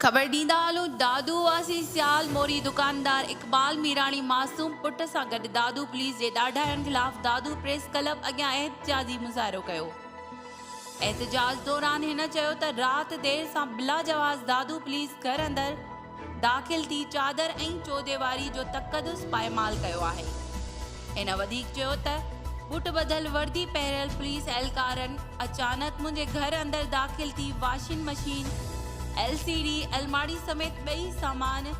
خبر ڏيندا هلون دادو واسي سيال موري دڪاندار اقبال ميراڻي معصوم پٽ سان گڏ دادو پوليس جي ڏاڍاين خلاف دادو پريس ڪلب اڳيان احتجاجي مظاهرو ڪيو احتجاج دوران هن چيو ته رات دير سان بلا جواز دادو پوليس گهر اندر داخل ٿي چادر ۽ چوديواري جو تقدس پائمال ڪيو آهي. هن وڌيڪ چيو ته بوٽ ٻڌل وردي پهريل پوليس اهلڪارن اچانڪ منهنجي گهر اندر داخل ٿي washing machine, L C D الماڙي سميت ٻئي سامان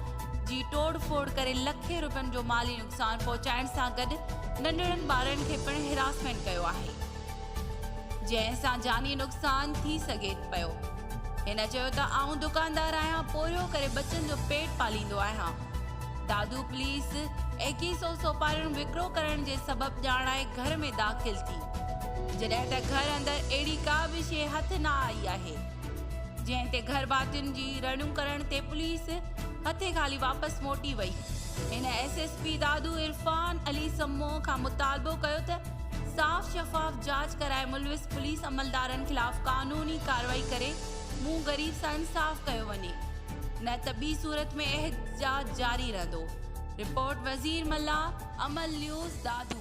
جي ٽوڙ ڦوڙ ڪري لکين روپين جو مالي نقصان پهچائڻ سان گڏ ننڍڙن ٻارڙن کي پڻ هراسمينٽ ڪيو آهي. جنهن سان جاني نقصان ٿي سگهي پيو. هن چيو ته آئون دڪاندار آهيان پورهيو ڪري ٻچن جو پيٽ پاليندو آهيان. دادو پوليس ايڪيهه سئو سوپاريون وڪرو ڪرڻ جي سبب ڄاڻائي گهر ۾ داخل ٿي جڏهن ته گهر اندر اهڙي ڪا به شيء هٿ نه آئي آهي جنهن تي گهر ڀاتين جي رڙيون ڪرڻ تي پوليس هٿي خالي واپس موٽي وئي. هن S S P Dadu Irfan Ali Samoon کان مطالبو ڪيو ته صاف شفاف جاچ ڪرائي ملوث پوليس عملدارن خلاف قانوني ڪارروائي ڪري مون غريب سان انصاف ڪيو وڃي نه ته ٻي صورت ۾ احتجاج جاري رهندو رپورٽ وزير ملاح عمل نيوز دادو